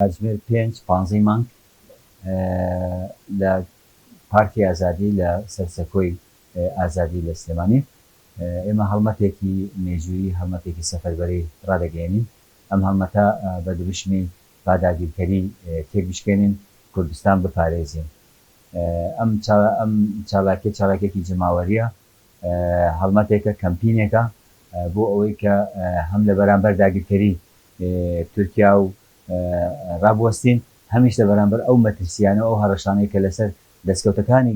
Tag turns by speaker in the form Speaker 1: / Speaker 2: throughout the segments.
Speaker 1: کاتژمێر پێنج پانزەی مانگ لە پارکی ئازادی لە سەر سەکۆی ئازادی لە سلێمانی ئێمە هەڵمەتێکی مێژوویی هەڵمەتێکی سەفەربەری ڕادەگەیەنین ئەم هەڵمەتە بە دروشمی با داگیرکەری تێکبشکێنین کوردستان بپارێزین ئەم چالاکیە چالاکیەکی جەماوەریە هەڵمەتێکە، کەمپینێکە بۆ ئەوەی کە هەم لە بەرامبەر داگیرکەری تورکیا و رابوەستین، هەمیش لە بەرامبەر ئەو مەترسییانە و ئەو هەڕەشانەی کە لەسەر دەستکەوتەکانی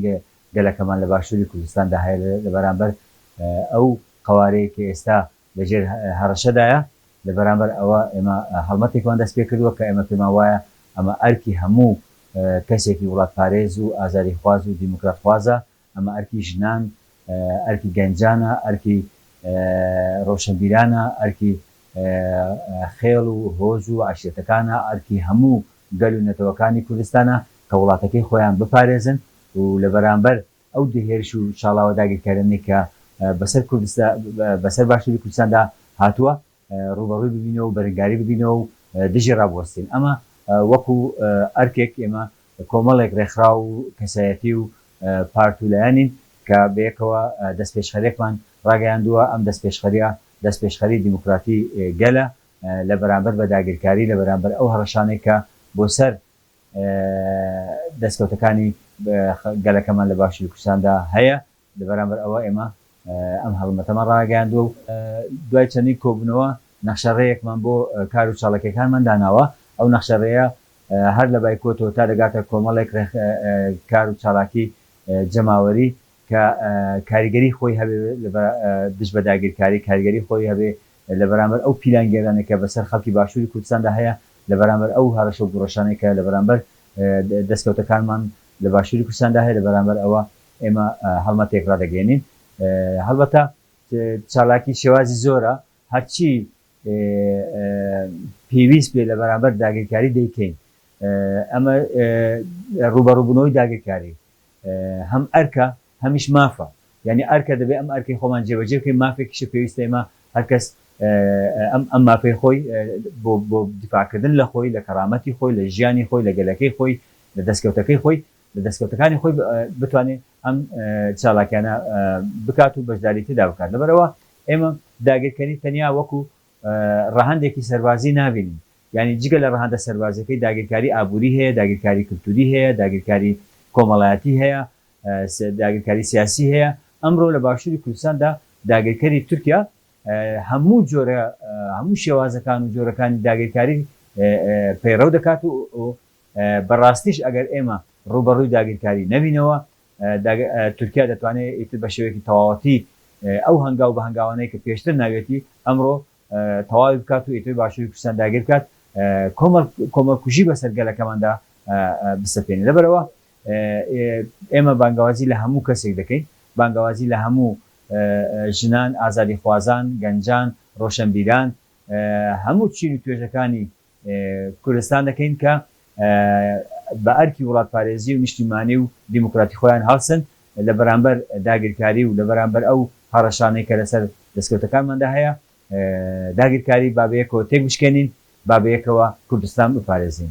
Speaker 1: گەلەکەمان لە باشووری کوردستاندا هەیە، لە بەرامبەر ئەو قەوارەی کە ئێستا لە ژێر هەڕەشەدایە، لە بەرامبەر ئەوە ئێمە هەڵمەتێکمان دەست پێ کردووە کە ئێمە پێمان وایە ئەمە ئەرکی هەموو کەسێکی وڵاتپارێز و ئازادیخواز و دیموکراتخوازە ئەمە ئەرکی ژنان، ئەرکی گەنجانە، ئەرکی ڕۆشنبیرانە، ئەرکی خێڵ و هۆز و عەشیرەتەکانە، ئەرکی هەموو گەل و نەتەوەکانی کوردستانە کە وڵاتەکەی خۆیان بپارێزن و لە بەرامبەر ئەو هێرش و شاڵاوە داگیرکەرانەی کە بەسەر باشوری کوردستاندا هاتووە، ڕووبەڕووی ببینەوە و بەرنگاری ببینەوە و دژی ڕابوەستین. ئەمە وەکو ئەرکێک ئێمە کۆمەڵێک ڕێکخراو و کەسایەتی و پارت و لایەنین کە بەیەکەوە دەستپێشخەرێکمان ڕاگەیاندووە، ئەم دەستپێشخەریە دەستپێشخەری دیموکراتی گەلە لە بەرامبەر بە داگیرکاری، لە بەرامبەر ئەو هەڕەشانەی کە بۆ سەر دەستکەوتەکانی گەلەکەمان لە باشوری کوردستاندا هەیە، لە بەرامبەر ئەوە ئێمە ئەم هەڵمەتەمان ڕاگەیاندووە و دوای چەندین کۆبوونەوە نەخشەڕێیەکمان بۆ کار و چاڵەکیەکانمان داناوە، ئەو نەخشەڕێیە هەر لە بایکۆتەوە تا دەگاتە کۆمەڵێک کار و چالاکی جەماوەری کە کاریگەری خۆی هەبێ دژ بە داگیرکاری، کاریگەری خۆی هەبێ لە بەرامبەر ئەو پیلانگێرانەی کە بەسەر خەڵکی باشووری کوردستاندا هەیە، لە بەرامبەر ئەو هەڕەشە و گوڕەشانەی کە لە بەرامبەر دەستکەوتەکانمان لە باشووری کوردستاندا هەیە، لە بەرامبەر ئەوە ئێمە هەڵمەتێک ڕادەگەیەنین، هەڵبەتە چالاکی شێوازی زۆرە، هەرچی پێویست بێت لە بەرامبەر داگیرکاری دەیکەین، ئەمە ڕووبەڕووبوونەوەی داگیرکاری هەم ئەرکە هەمیش مافە، یانی ئەرکە دەبێت ئەم ئەرکەی خۆمان جێبەجێ بکەین، مافێکیشە پێویستە ئێمە هەرکەس ئەم مافەی خۆی بۆ دیفاعکردن لە خۆی، لە کەرامەتی خۆی، لە ژیانی خۆی، لە گەلەکەی خۆی، لە دەستکەوتەکەی خۆی لە دەستکەوتەکانی خۆی بتوانێت ئەم چالاکیانە بکات و بەشداری تێدا بکات لەبەرەوە ئێمە داگیرکەری تەنیا وەکو ڕەهەندێکی سەربازی نابینین یعنی جگە لە ڕەهەندە سەربازەکەی داگیرکاری ئابووری هەیە داگیرکاری کلتوری هەیە داگیرکاری کۆمەڵایەتی هەیە داگیرکاری سیاسی هەیە ئەمڕۆ لە باشووری کوردستاندا داگیرکەری تورکیا هەموو جۆرە هەموو شێوازەکان و جۆرەکانی داگیرکاری پەیڕەو دەکات و بە ڕاستیش ئەگەر ئێمە ڕووبەڕووی داگیرکاری نەبینەوە، تورکیا دەتوانێت ئیتر بە شێوەیەکی تەواوەتی ئەو هەنگاو بە هەنگاوانەی کە پێشتر ناویەتی، ئەمڕۆ تەواوی بکات و ئیتر باشووری کوردستان داگیر بکات، کۆمەڵکوژی بەسەر گەلەکەماندا بسەپێنێت. لەبەرئەوە ئێمە بانگەوازی لە هەموو کەسێک دەکەین، بانگەوازی لە هەموو ژنان، ئازادیخوازان، گەنجان، ڕۆشەنبیران، هەموو چین و توێژەکانی کوردستان دەکەین کە بە ئەرکی وڵاتپارێزی و نیشتیمانی و دیموکراتی خۆیان هەڵسن لە بەرامبەر داگیرکاری و لە بەرامبەر ئەو هەڕەشانەی کە لەسەر دەستکەوتەکانماندا هەیە داگیرکاری با بەیەکەوە تێکبشکێنین با بەیەکەوە کوردستان بپارێزین.